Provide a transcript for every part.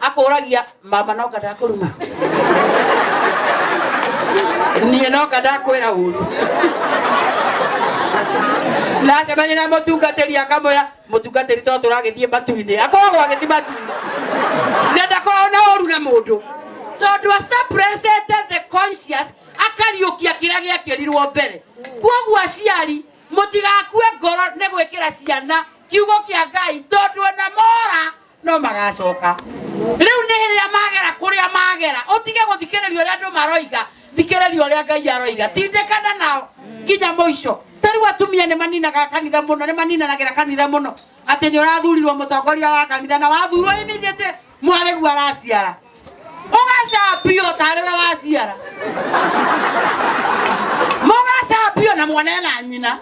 akũragia mama noka ndakũruma niĩ noka ndakwĩra ũru nacemania na mũtungatĩri akamwĩra mũtungatĩri to tũragĩthiĩ matu-inĩ akoragwo agĩthiĩ matu-inĩ na ndakoragwo na ũru na mũndũ tondũ asapresete the conscious akariũkia kĩrĩa gĩekĩrirwo mbere kwoguo aciari mũtigakue ngoro nĩ gwĩkĩra ciana kiugo kĩa ngai tondũ ona mora no magacoka riu nĩ rĩrĩa magera kũrĩa magera ũtige gũthikĩrĩria ũrĩa andũ maroiga thikĩrĩria ũrĩa ngai aroiga tindĩkana nao nginya mũico tarĩu atumia nĩ maninaga kanitha mũno nĩ maninanagĩra kanitha mũno atĩ nĩ ũrathurirwo mũtongoria wa kanitha na wathurwo immediately mwarĩgu araciara ũgacambio tarĩ we waciara mũgacambio na mwana na nyina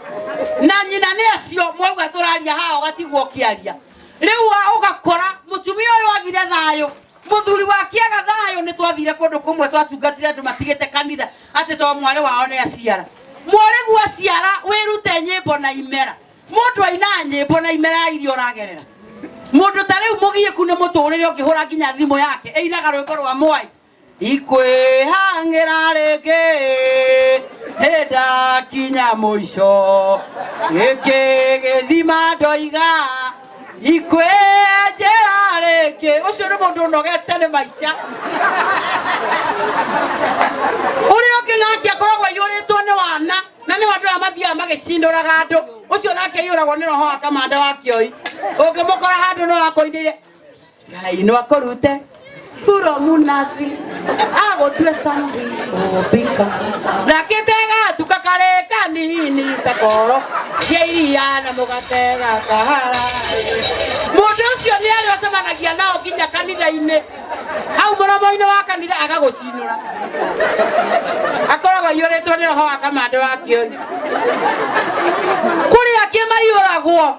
na nyina nĩ acio mwauga tũraria haha ũgatigwo ũkĩaria rĩu wa ũgakora mũtumia ũyũ agire thayũ mũthuri wake aga thayũ nĩ twathire kũndũ kũmwe twatungatire andũ matigĩte kanitha atĩ to mwarĩ wao nĩ aciara mwarĩgu aciara wĩrute nyĩmbo na imera mũndũ ainaga nyĩmbo na imera ya iria ũragerera mũndũ ta rĩu mũgiĩku nĩ mũtũrĩre ũngĩhũra nginya thimũ yake ĩinaga rwĩmbo rwa mwai ikwĩhangĩra rĩngĩ hĩndakinya mũico gĩkĩ gĩthima ndoiga ikwĩenjera rĩngĩ ũcio nĩ mũndũ ũnogete nĩ maica ũrĩa ũngĩ nake akoragwo aiyũrĩtwo nĩ wana na nĩ andũ aya mathiaga magĩcindũraga andũ ũcio nake aiyũragwo nĩ roho wa kamanda wa kĩoi ũngĩmũkora handũ nĩ wakoinĩire Ngai no akorute kuro munathi agotue sambi obika nakitega tukakare kanini takoro yeia na mugatega kahara mundu ucio ni ari ocemanagia nao nginya kanitha-ini hau muromo-ini wa kanitha agagucinura akoragwo aiyuritwo ni roho wa kamande wa kioni kuria kimaiyuragwo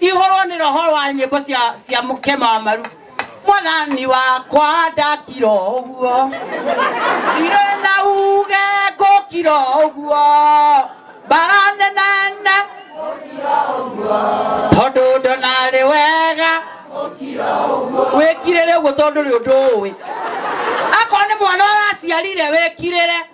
ihũrwo nĩ roho wa nyĩmbo cia cia mũkema wa maru mwathani wakwa ndakira ũguo irĩ na uge ngũkira ũguo mbara nenene tondũ ndonarĩ wega wĩkirĩre ũguo tondũ rĩ ũndũ ũĩ akorwo nĩ mwana ũraciarire wĩkirĩre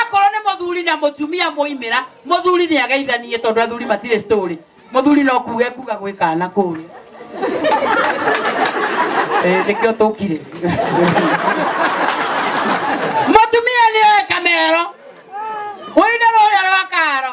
Akorwo nĩ mũthuri na mũtumia moimĩra, mũthuri nĩ ageithanie tondũ athuri matirĩ story. Mũthuri no kuga ekuga gwĩ kana kũrĩa. Eh, nĩkĩo tũkire. Mũtumia nĩ oĩ kamero. Ũinĩ rũrĩa rwa karo.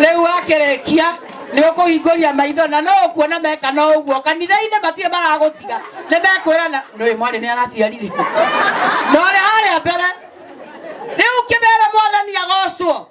riu akirikia ni ukuhinguria maitho na no ukuona meka no uguo kanitha-ini matirĩ maragũtiga nĩ mekwĩra na nĩ mwarĩ nĩ araciarire na ũrĩa harĩa mbere rĩu kĩmera mwathani agocwo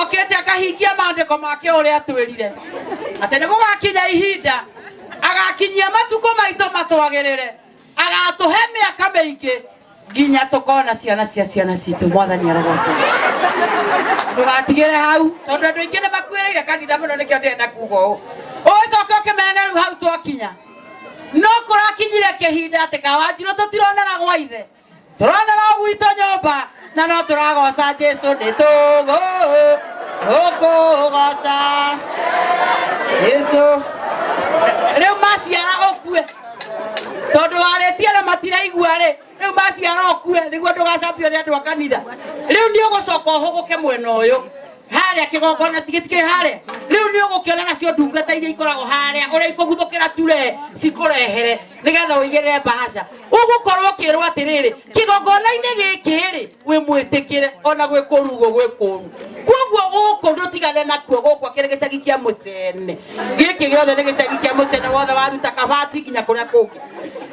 okite akahingia maandĩko make ũrĩa atwĩrire atĩ nĩ gũgakinya ihinda agakinyia matukũ maitũ matwagĩrĩre agatũhe mĩaka mĩingĩ nginya tũkona ciana cia ciana citũ mwathani arogocwo ndũgatigĩre hau tondũ andũ aingĩ nĩ makuĩrĩire kanitha mũno nĩkĩo ndĩrĩ na kuga ũũ ũgĩcoka ũkĩmena rĩu hau twakinya no kũrakinyire kĩhinda atĩ kawanjirũ tũtironana gwa ithe tũronera gwitũ nyũmba na no tũragoca jesu nĩ tũgũ ũkũgoca jesu rĩu maciara ũkue tondũ warĩtie na matiraigua rĩ rĩu maciara ũkue nĩguo ndũgacambio nĩ andũ a kanitha rĩu nĩ ũgũcoka ũhũgũke mwena ũyũ harĩa kĩgongona tigĩtikĩrĩ harĩa rĩu nĩ ũgũkĩona nacio ndungata iria ikoragwo harĩa ũrĩa ikũguthũkĩra ture cikũrehere nigetha uigirire bahasha ugukorwo ukirwo atiriri kigongona-inĩ gĩkĩ rĩ wĩ mwĩtĩkĩre ona gwĩ kũrugwo gwĩ kũru koguo gũkũ ndũtigane nakuo gũkwa kĩrĩ gĩcagi kĩa mũcene gĩkĩ gĩothe nĩ gĩcagi kĩa mũcene wothe waruta kabati nginya kũrĩa kũngĩ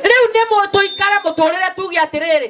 rĩu nĩ mũ- tũikare mũtũrĩre tuge atĩrĩrĩ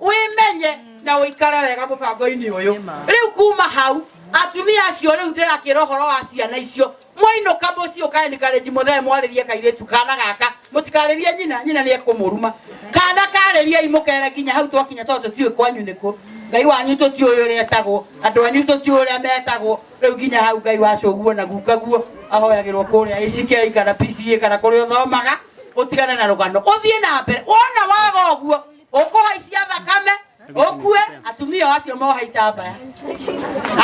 wĩmenye na ũikare wega mũbango-inĩ ũyũ rĩu kuma hau atumia acio rĩu ndĩrakĩra ũhoro wa ciana icio mwainũka mũciĩ ũkaenikarenji mũthee mwarĩrie kairĩtu kana gaka mũtikarĩrie nyina nyina nĩ ekũmũruma kana karĩriei mũkere nginya hau twakinya tondũ tũtiũĩ kwanyu nĩkũ ngai wanyu tũtiũĩ ũrĩa etagwo andũ anyu tũtiũĩ ũrĩa metagwo rĩu nginya hau ngai wa cũguo na gukaguo ahoyagĩrwo kũrĩa ĩcikei kana pca kana kũrĩa ũthomaga ũtigane na rũgano ũthiĩ na mbere wona waga ũguo ũkũhaicia thakame ũkue atumia o acio mohaita mbaya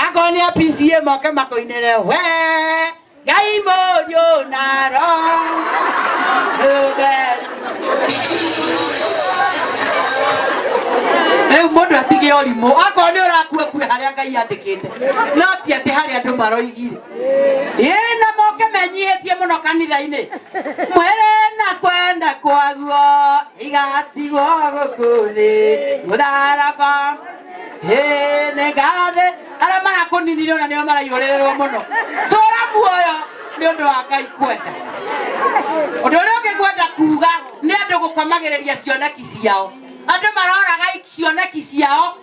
akorwo nĩ a PCA moke makũinĩre we ngai mũriũ na roho ũtheru rĩu mũndũ atige ũrimũ akorwo nĩ ũrakua kue harĩa ngai andĩkĩte no ti atĩ harĩa andũ maroigire ĩĩ na moke menyihĩtie mũno kanitha-inĩ mwĩrĩ na kwenda kwaguo igatigwo gũkũ thĩ mũtharaba ĩĩ nĩ ngathĩ arĩa marakũninire ona nĩo maraihũrĩrĩrwo mũno tũra muoyo nĩ ũndũ wa ngai kwenda ũndũ ũrĩa ũngĩ ngwenda kuga nĩ andũ gũkomagĩrĩria cioneki ciao andũ maroraga cioneki ciao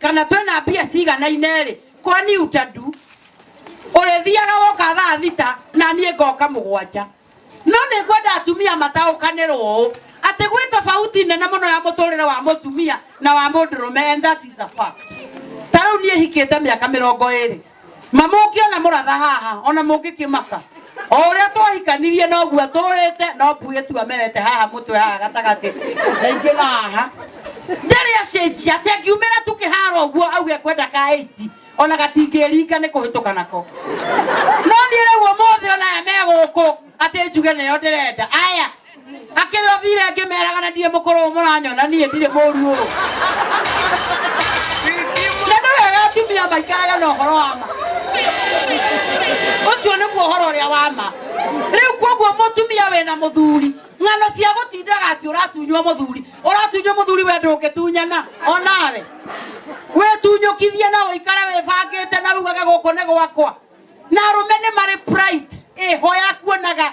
kana twĩ na mbia ciganaine-rĩ kwani utadu ũrĩthiaga woka thaa thita na niĩ ngoka mũgwanja no nĩ ngwenda atumia mataũkanĩrwo ũũ atĩ gwĩ tofauti nene mũno ya mũtũrĩre wa mũtumia na wa mũndũrũme and that is a fact ta rĩu niĩ hikĩte mĩaka mĩrongo ĩrĩ mamũke ona mũratha haha ona mũngĩkĩmaka o ũrĩa twahikanirie noguo atũrĩte no mbuĩ tu amerete haha mũtwe haha gatagatĩ na ingĩ haha ndarĩ acenjia atĩ angiumĩra tu kĩharo ũguo auge kwenda ka ĩiti ona gatingĩringa nĩ kũhĩtũka nako no niĩ rĩu ũmũthĩ ona aya me gũkũ atĩ njuge nĩyo ndĩrenda aya akĩrĩ othire ngĩmeraga na ndirĩ mũkũrũ ũyũ mũranyona niĩ ndirĩ mũru ũũ na nĩ wega atumia maikaraga na ũhoro wa ma ũcio nĩguo ũhoro ũrĩa wa ma rĩu kwoguo mũtumia wĩna mũthuri ng'ano cia gũtindaga atĩ ũratunywo mũthuri ũratunywo mũthuri we ndũngĩtunyana onawe wĩtunyũkithie na ũikare wĩbangĩte na ugage gũkũ nĩ gwakwa na arũme nĩ marĩ pride ĩho ya kuonaga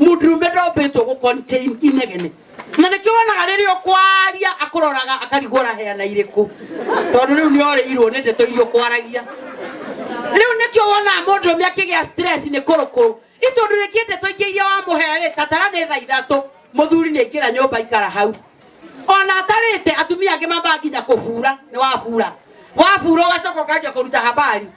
mũndũrũme ndombĩtwo gũ contain inegene na nĩkĩo wonaga rĩrĩa ũkwaria akũroraga akarigũra heana irĩkũ tondũ rĩu nĩ orĩirwo nĩ ndeto iria ũkwaragia rĩu nĩkĩo wonaga mũndũrũme akĩgĩa stress nĩ kũrũkũrũ nĩ tondũ rĩngĩ ndeto ingĩ iria wamũherĩ tatara nĩ tha ithatũ mũthuri nĩ aingĩra nyũmba ikara hau ona atarĩte atumia angĩ mambaga nginya kũbura nĩ wabura wabura ũgacoka ũkanjia kũruta habari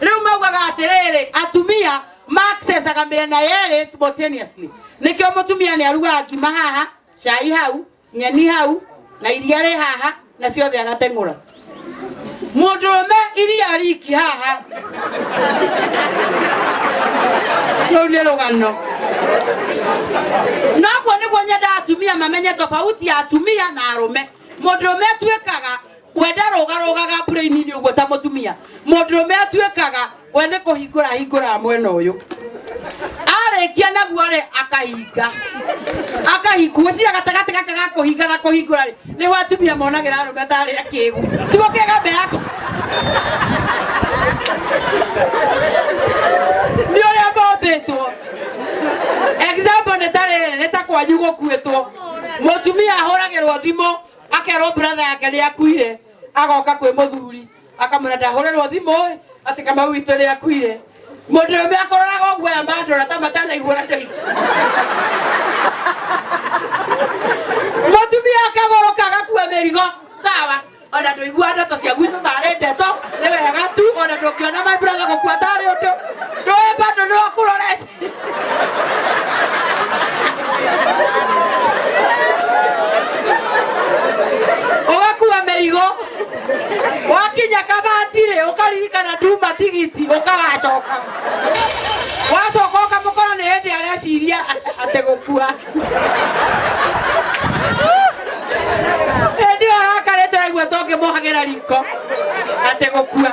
riu maugaga atiriri atumia maccessaga miena yeri simultaneously nikio mutumia ni arugaga ngima haha cai hau nyeni hau na iria ri haha na ciothe agateng'ura mundurume iria riki haha rĩu nĩ rũgano noguo nĩguo nyendaga atumia mamenye tofauti ya atumia na arũme mũndũrũme atuĩkaga kwenda rũgarũgaga mbura-inĩ ũguo ta mũtumia mũndũrũme atuĩkaga we nĩ kũhingũra hingũraga mwena ũyũ arĩkia naguo rĩ akahinga akahingua cira gatagatĩ gaka ga kũhinga na kũhingũra rĩ nĩho atumia monagĩra arũme ndarĩa kĩgu tiguo kĩega mbere yake nĩ ũrĩa mombĩtwo example nĩ ta rĩrĩ nĩ ta kwanyu gũkuĩtwo mũtumia ahũragĩrwo thimũ akerwo brother yake nĩ akuire agoka kwĩ mũthuri akamwĩra ndahũrĩrwo thimũ ĩ atĩ kamau witũ nĩ akuire mũndũ ũmwe akũroraga ũguo aya mandora ta matanaiguana ndĩi mũtumia akagũrũka agakua mĩrigo sawa ona ndũigua ndeto cia gwitũ tarĩ ndeto nĩ wega tu ona ndũngĩona my brother gũkua tarĩ ũndũ ndũĩ bado nĩ wakũrorete ugakua mĩrigo wakinya kabatire ukaririkana ndumba tigiti ukagacoka wacoka ukamũkora nĩ hĩndĩ areciria atĩ gũkua hĩndĩ ĩyo arakarĩte aigua tũngĩmũhagĩra riko atĩ gũkua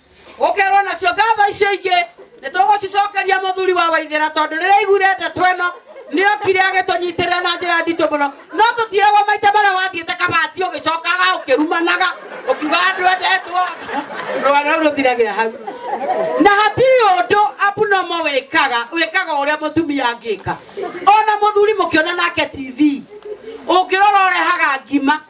gukerwo nacio ngatho icio ingi ni tugucicokeria muthuri wa waithira tondu riria aiguire ndeto ino ni okire agitunyitirira na njira nditu muno no tutiragwo maita maria wathiite kabati ugicokaga ukirumanaga ukiuga andu endetwo rwa rau ruthiragira hau na hatirĩ ũndũ abunomo wĩkaga wĩkaga ũrĩa mũtumia angĩka ona mũthuri mũkĩona nake tv ũngĩrora ũrehaga ngima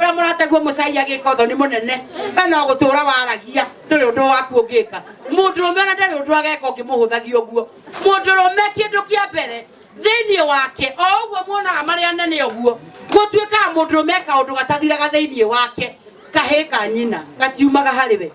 we mũrateguo mũcai agĩka ũthoni mũnene we no gũtũra waragia ndũrĩ ũndũ waku ũngĩka mũndũrũme ona ndarĩ ũndũ ageka ũngĩmũhũthagia ũguo mũndũrũme kĩndũ kĩa mbere thĩinĩ wake o ũguo muonaga marĩ anene ũguo gũtuĩkaga mũndũrũme eka ũndũ gatathiraga thĩinĩ wake kahĩ ka nyina gatiumaga harĩ we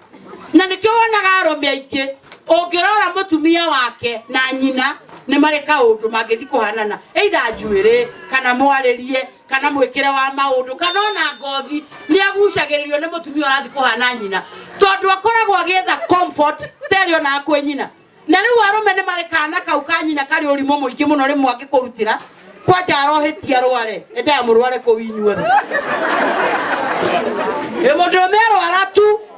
na nĩkĩo wonaga arũme aingĩ ũngĩrora mũtumia wake na nyina nĩ marĩ kaũndũ mangĩthi kũhanana either njuĩrĩ kana mwarĩrie kana mwĩkĩre wa maũndũ kana ona ngothi nĩ agucagĩrĩrio nĩ mũtumia ũrathiĩ kũhana nyina tondũ akoragwo agĩetha comfort terĩ ona kwĩ nyina na rĩu arũme nĩ marĩ kana kau ka nyina karĩ ũrimũ mũingĩ mũno rĩmwe angĩkũrutĩra kwanja arohĩtia arware endaga mũrware kũu inyuothe ĩ mũndũ ũmwe arwara tu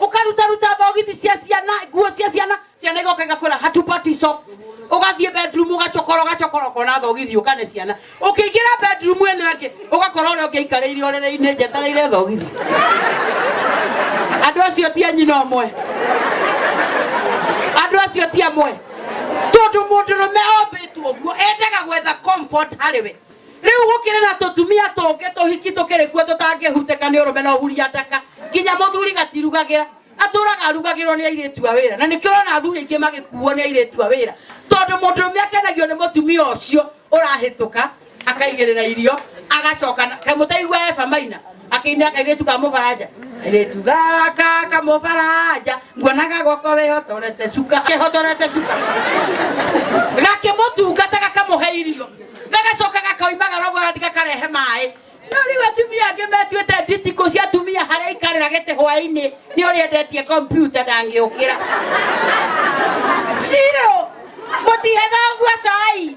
ukarutaruta thogithi cia ciana nguo cia ciana ciana igoka igakwira hatupati socks ugathie bedroom ugacokora ugacokora ukona thogithi ukane ciana ukiingira bedroom eno ingi ugakora uria ungiikarire urere-ini njetereire thogithi andu acio ti anyina omwe andu acio ti amwe tondu mundu rume ombitwo guo endaga gwetha comfort harĩ we rĩu gũkĩrĩ na tũtumia tũngĩ tũhiki tũkĩrĩ kuo tũtangĩhutĩka nĩ ũrũme na ũhuria ndaka nginya mũthuri gatirugagĩra atũraga arugagĩrwo nĩ airĩtu a wĩra na nĩkĩo ũrona athuri aingĩ magĩkuo nĩ airĩtu a wĩra tondũ mũndũrũme akenagio nĩ mũtumia ũcio ũrahĩtũka akaigĩrĩra irio agacoka na- kaĩ mũtaigua eba maina akĩina kairĩtu ka mũbaranja kairĩtu gaka kamũbaranja nguonaga gwako wĩhotorete cuka kĩhotorete cuka gakĩmũtungata gakamũhe irio gagacoka gakoimaga rogo gathi gakarehe maĩ no rĩu atumia angĩ metuĩte nditikũ cia atumia harĩa ikarĩra gĩtĩ hwaĩ-inĩ nĩ ũrĩa endetie kompiuta ndangĩũkĩra ciro mũtihetha ũguo cai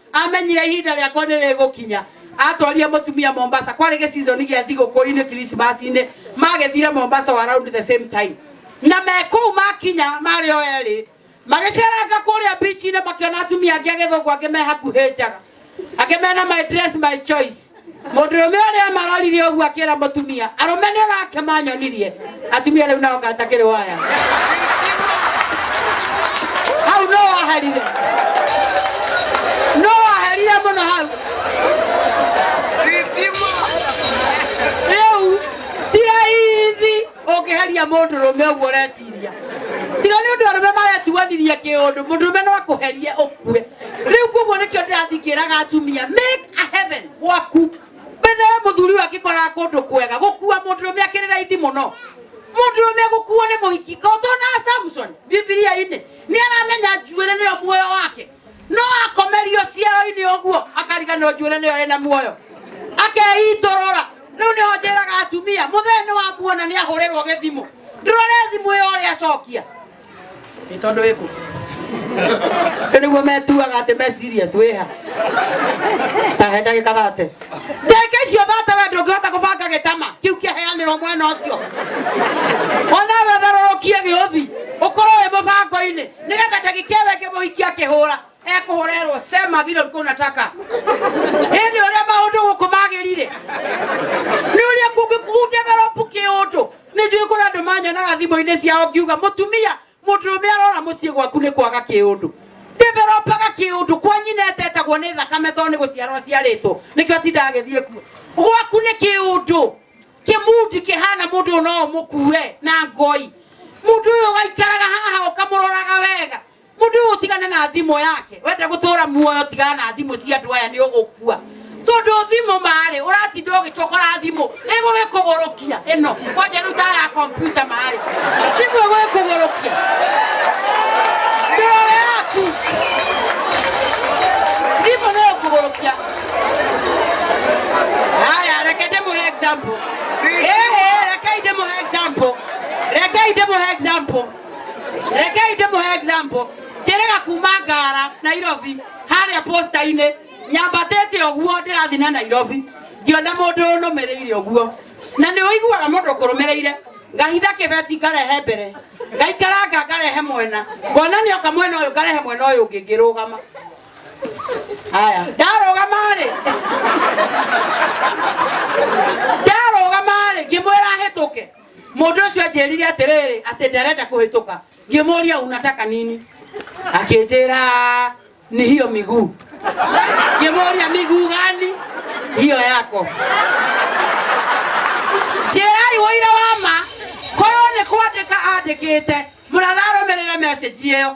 amenyire ihinda rĩakwa nĩ rĩgũkinya atwarire mũtumia mombasa kwarĩ gĩcizoni gĩa thigũkũ-inĩ kirismasi-inĩ magĩthire mombasa o around the same time na me kũu makinya marĩ o erĩ magĩceranga kũrĩa bici-inĩ makĩona atumia angĩ agĩthũngũ angĩ me hakuhĩ njaga angĩ mena my dress my choice Mũndũ rũme ũrĩa marorire ũguo akĩra mũtumia arũme nĩ ũrake manyonirie atumia rĩu nao ngatakĩrĩ waya hau no waherire no waherire mũno hau rĩu ti raithi ũngĩheria mũndũrũme ũguo ũreciria tiga nĩ ũndũ arũme maretuanirie kĩũndũ mũndũrũme no akũherie ũkue rĩu koguo nĩkĩo ndĩrathiĩ ngĩraga atumia make a heaven gwaku mbere ya mũthuri ũyũ angĩkoraga kũndũ kwega gũkua mũndũrũme akĩrĩ raithi mũno mũndũrũme gũkuo nĩ mũhiki ka ũtona samson bibilia-inĩ nĩ aramenya njuĩrĩ nĩyo muoyo wake no akomerio ciero-inĩ ũguo akariganĩrwo njuĩrĩ nĩyo ĩna muoyo akeitũrũra rĩu nĩho njĩraga atumia mũthee nĩ wamuona nĩ ahũrĩrwo gĩthimũ ndũrore thimũ ĩyo ũrĩa acokia nĩ tondũ ĩkũ rĩu nĩguo metuaga atĩ me serious wĩha tahe ndagĩka thate ndagĩka icio thate we ndũngĩhota gũbanga gĩtama kĩu kĩaheanĩrwo mwena ũcio onawe tharũrũkie gĩũthi ũkorwo wĩ mũbango-inĩ nigetha ndagikia we ngimuhiki akihura ekuhurerwo sema vile ulikuwa unataka ini uria maundu guku magirire ni uria kungikundeveropu kiundu nijui kuri andu manyonaga thimu-ini ciao ngiuga mutumia muturume arora mucii gwaku ni kwaga kiundu ndiveropaga kiundu kwa nyina etetagwo ni thakame to ni guciarwo aciaritwo nikio tindaga agithie kuo gwaku ni kiundu kimundi kihana mundu no mukue na ngoi mundu uyu waikaraga haha ukamuroraga wega mundu uyu tigana na thimo yake wenda gutura muoyo tigana na thimo cia andu aya ni ugukua tondu thimo mari uratinda ugicokora thimo igugikugurukia ino kwanja ruta ya kompyuta mari thimo igugikugurukia ndoro yaku thimo ni ikugurukia haya reke ndĩmũhe example Ehe, rekei ndĩmũhe example rekei ndĩmũhe example rekei ndĩmũhe example njĩrĩga kuma ngara nairobi harĩa posta-inĩ nyambatĩte ũguo ndĩrathiĩ na nairobi ngĩona mũndũ ũnũmĩrĩire ũguo na nĩ ũiguaga mũndũ ũkũrũmĩrĩire ngahitha kĩbeti ngarehe mbere ngaikaranga ngarehe mwena ngona nĩ oka mwena ũyũ ngarehe mwena ũyũ ũngĩ ngĩrũgama aya ndarũgamarĩ ndarũgamarĩ ngĩmwĩra hĩtũke mũndũ ũcio anjĩrire atĩrĩrĩ atĩ ndarenda kũhĩtũka ngĩmũria unataka nini akĩnjĩra ni hiyo miguu ngĩmũria miguu gani hiyo yako njĩrai ũira wa ma korwo nĩ kwandĩka andĩkĩte mũratharũmĩrĩre message ĩyo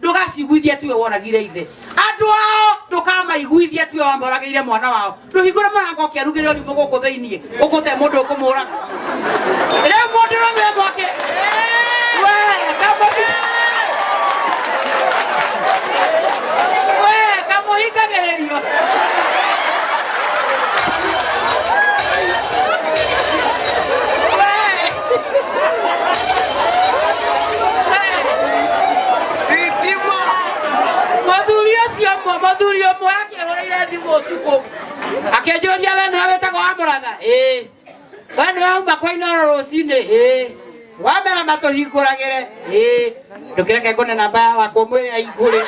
ndũgaciguithie tiwe woragire ithe andũ ao ndũkamaiguithie tiwe wamboragĩire mwana wao ndũhingũre mũrango ũkĩarugĩre ũrimũ gũkũ thĩiniĩ ũkũte mũndũ ũkũmũraga rĩu mũndũ rũmwe mwake we kamũhi we kamũhingagĩrĩrio Thitima. Mũthuri ũcio ũmwe, mũthuri ũmwe akĩhũrĩire thimũ ũtukũ. Akĩnjũria we nĩwe wĩtagwo wa mũratha? Ĩĩ. We nĩwe wauma kwa Inoro rũcinĩ? Ĩĩ. Wamera matũhingũragĩre? Ĩĩ. Ndũkĩreke ngone namba ya wakwa mwĩre ahingũre.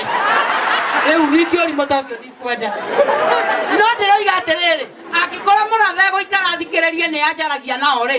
Rĩu ningĩ ũrimũ ta ũcio ndikwenda. No ndĩroiga atĩrĩrĩ, angĩkorwo mũratha egũikara athikĩrĩrie nĩ anjaragia nao-rĩ,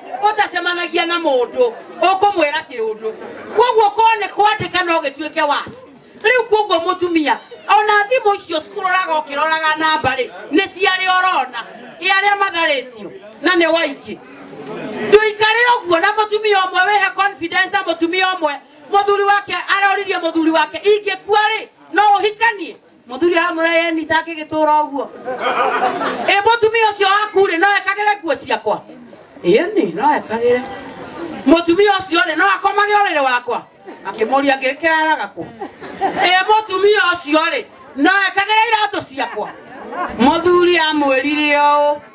ũtacemanagia na mũndũ ũkũmwĩra kĩũndũ kwoguo korwo nĩ kwandĩka no gĩtuĩke wasi rĩu kwoguo mũtumia ona thimũ icio cikũroraga ũkĩroraga namba rĩ nĩ ciarĩ orona ĩ arĩa matharĩtio na nĩ waingĩ ndũikare ũguo na mũtumia ũmwe wĩhe confidence na mũtumia ũmwe mũthuri wake aroririe mũthuri wake ingĩkua rĩ no ũhikanie muthuri amura yenyita akigitũra ũguo ĩ mũtumia ũcio waku rĩ no ekagĩre nguo ciakwa ĩni no ekagĩre mũtumia ũcio rĩ no akomage ũrĩrĩ wakwa akĩmũria ngĩkĩraraga kũ ĩ mũtumia ũcio rĩ no ekagĩre iratũ ciakwa mũthuri amwĩrire ũũ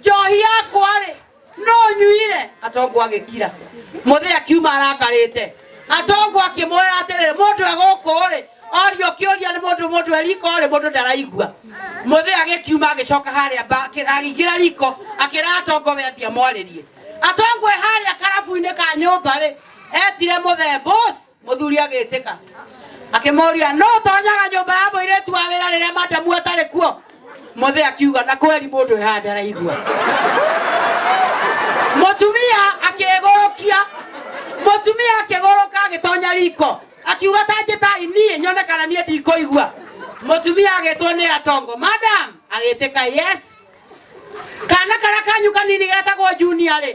njohi yakwa-rĩ no nyuire atongu agĩkira mũthĩ akiuma arakarĩte atongu akĩmwĩra atĩrĩrĩ mũndũ e gũkũ-rĩ orio kĩũria nĩ mũndũ mũndũ e riko-rĩ mũndũ ndaraigua mũthĩ agĩkiuma agĩcoka harĩa mba- akĩ- agĩingĩra riko akĩra atongo we athiĩ amwarĩrie atongo e harĩa karabu-inĩ ka nyũmba-rĩ etire mũthee boss Mũthuri agĩtĩka akĩmoria no tonyaga nyũmba ya mũirĩtu wa wĩra rĩrĩa madamu atarĩ kuo mũthĩ akiuga na kweri mũndũ ehaga ndaraigua mũtumia akĩgũrũkia mũtumia akĩgũrũka agĩtonya riko akiuga ta njĩtai niĩ nyone kana niĩ ndikũigua mũtumia agĩtwo nĩ atongo madam agĩtĩka yes kana karĩa kanyu kanini getagwo junior rĩ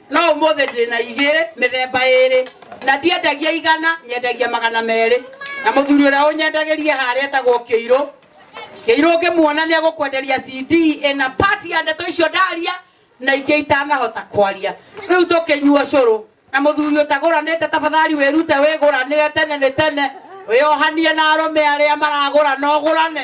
no ũmũthĩ ndĩ na igĩrĩ mĩthemba ĩrĩ na ndiendagia igana nyendagia magana merĩ na mũthuri ũrĩa ũnyendagĩria harĩa etagwo kĩirũ kĩirũ ngĩmuona nĩ egũkwenderia cd ĩna pati ya ndeto icio ndaria na ingĩ itanahota kwaria rĩu tũkĩnyua cũrũ na mũthuri ũtagũranĩte tafadhali wĩrute wĩgũranĩre tene nĩ tene wĩohanie na arũme arĩa maragũra na ũgũrane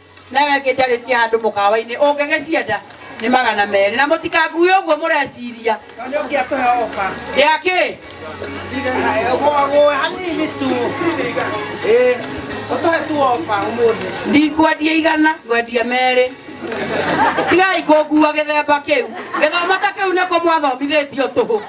Nayo ĩngĩ njarĩtie handũ mũkawa-inĩ, ũngĩgĩcienda nĩ magana merĩ. Na mũtikangue ũguo mũreciria. Tondũ nĩ ũngĩatũhe oka. Ya kĩ? Gũagũe hanini tu. Ĩĩ. Ũtũhe tu oka ũmũthĩ. Ndikwendia igana, ngwendia merĩ. Tigai kũngua gĩthemba kĩu. Gĩthomo ta kĩu nĩkũ mwathomithĩtio tũhũ?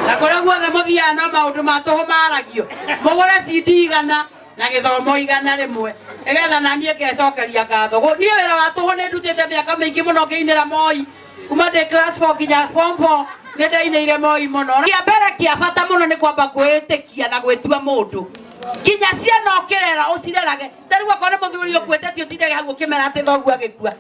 Na kũrĩa guothe mũthiaga no maũndũ ma tũhũ maragio. Mũgũre CD igana. na githomo igana rimwe nigetha nanie ngecokeria ngatho Gu- niĩ wĩra wa tũhũ nĩ ndutĩte mĩaka mĩingĩ mũno ngĩinĩra moi kuma ndĩ class 4 nginya form 4 nĩ ndainĩire moi mũno kĩa mbere kĩa bata mũno nĩ kwamba kwĩĩtĩkia na gwĩtua mũndũ nginya ciana ũkĩrera ũcirerage tarĩu akorwo nĩ mũthuri ũkuĩte ti ũtindage hau ũkĩmera atĩ thoguo agĩkua